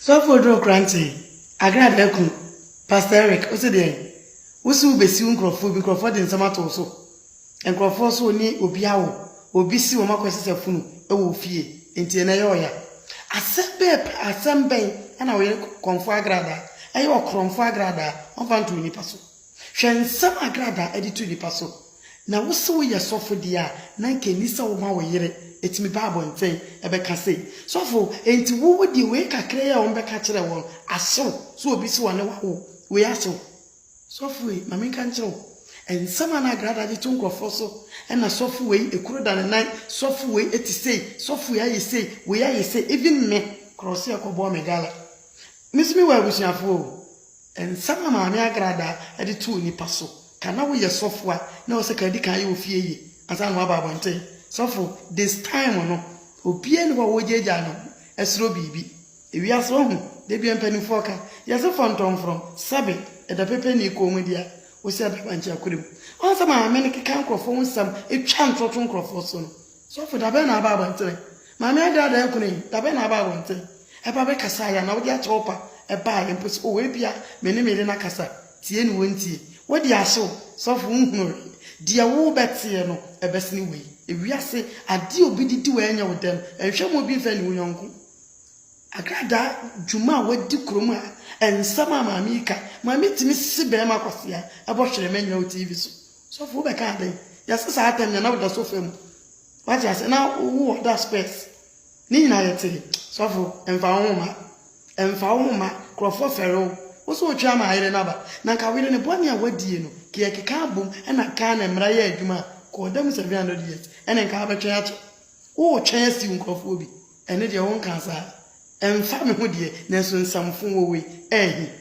Sɔfo Oduro Krantsee, Accra Adaakun, Pastor Eric, Ose deɛn? Wo se wobesiw nkorɔfoɔ bi, nkorɔfoɔ de nsɛm ato wo so. Nkorɔfoɔ so ne obi awo, obi si wɔn akɔsesa funu wɔ wo fie, nti ɛno ɛyɛ ɔya. Asɛm bɛɛ pɛ, asɛm bɛn na wo yere kɔmfoɔ agradaa, ɛyɛ ɔkorɔmfoɔ agradaa, ɔmfa nto onipa so. Hwɛ nsɛm a Gradaa de to nnipa so. Na wo se woyɛ sɔfo deɛ a, na anka ɛnni sɛ woma wo yere tumi ba abɔntɛn bɛka sei, Sɔfo, enti wo wo deɛ wei kakra yi a wɔbɛka kyerɛ wo no ahye wo, sɛ obi se ɔne wo awo wei ahye wo? Sɔfo ei, ma menka nkyerɛ wo, nsɛm a na Gradaa de to nkurɔfoɔ so, ɛna sɔfo wei kuro da ne nan, sɔfo wei te sei, sɔfo wei ayɛ sei, wei ayɛ sei, even me, korɔ se ɛkɔbɔɔ me gala. Me nso mewɔ abusuafoɔ o, Nsɛm a Maame Agradaa de too nnipa so ka na woyɛ sɔfo a na ɛwɔ sɛ kan di kan yɛ wo fie yie ansa na woaba abɔnten sɔfo This time no obiara nni hɔ a wogyaagyaa ne ho srɛ biribi Ewiase wahu Da biara mpanimfoɔ ka yɛ se fɔntɔmfrɔm sɛbe ɛda pɛpɛnii kɔnmudeɛ a ɔsi abɛɛba nkyɛn akora mu Wɔn sɛ Maame no keka nkurɔfoɔ ho nsɛm twa ntorɔto nkurɔfoɔ so no Sɔfo, dabɛn na aba abɔntere? Maame Adaa, Dɛn kono yi? Dabɛn na aba abɔntere? Ɛba bɛkasaeɛ a, na wode akyerɛ wo pa ɛbaeɛ mpo sɛ, Oh, ebia me ne me yere no akasa, tie ne wɔntie. Woadi ase o, sɔfo, wonhunu hwee. Deɛ worebɛteɛ no, ɛbɛsene wei. Ewiase adeɛ a obi de di wo a ɛnyɛ wo dɛ no, nhwɛ mma obi mfɛ nni wo yɔnko. Akradaa dwuma a wɔadi kurom ha, nsɛm a maame yi ka, ma metumi se barima kwasea, ɛbɔ hwerɛma nyina wɔ TV so. Sɔfo wo bɛka dɛn? Yɛse saa tɛm na na woda sofa mu wate ase na wo ɔda spɛs ne nyina yɛte sɔfo ɛmfa wo ho ma ɛmfa wo ho ma krɔfoɔ fɛre wo wo so wotwe ama ayere no aba na nka woyere no bɔne a wadie no ke yɛkeka abom ɛna Ghana mmra yɛ adwuma a kɔ ɔda mu 700 years ɛne nka wobɛtwɛn akyɛ wo wotwɛn asiw nkrɔfoɔ bi ɛne deɛ wo nka saa ɛmfa me ho deɛ nanso nsamfo wɔ wei ɛɛhe.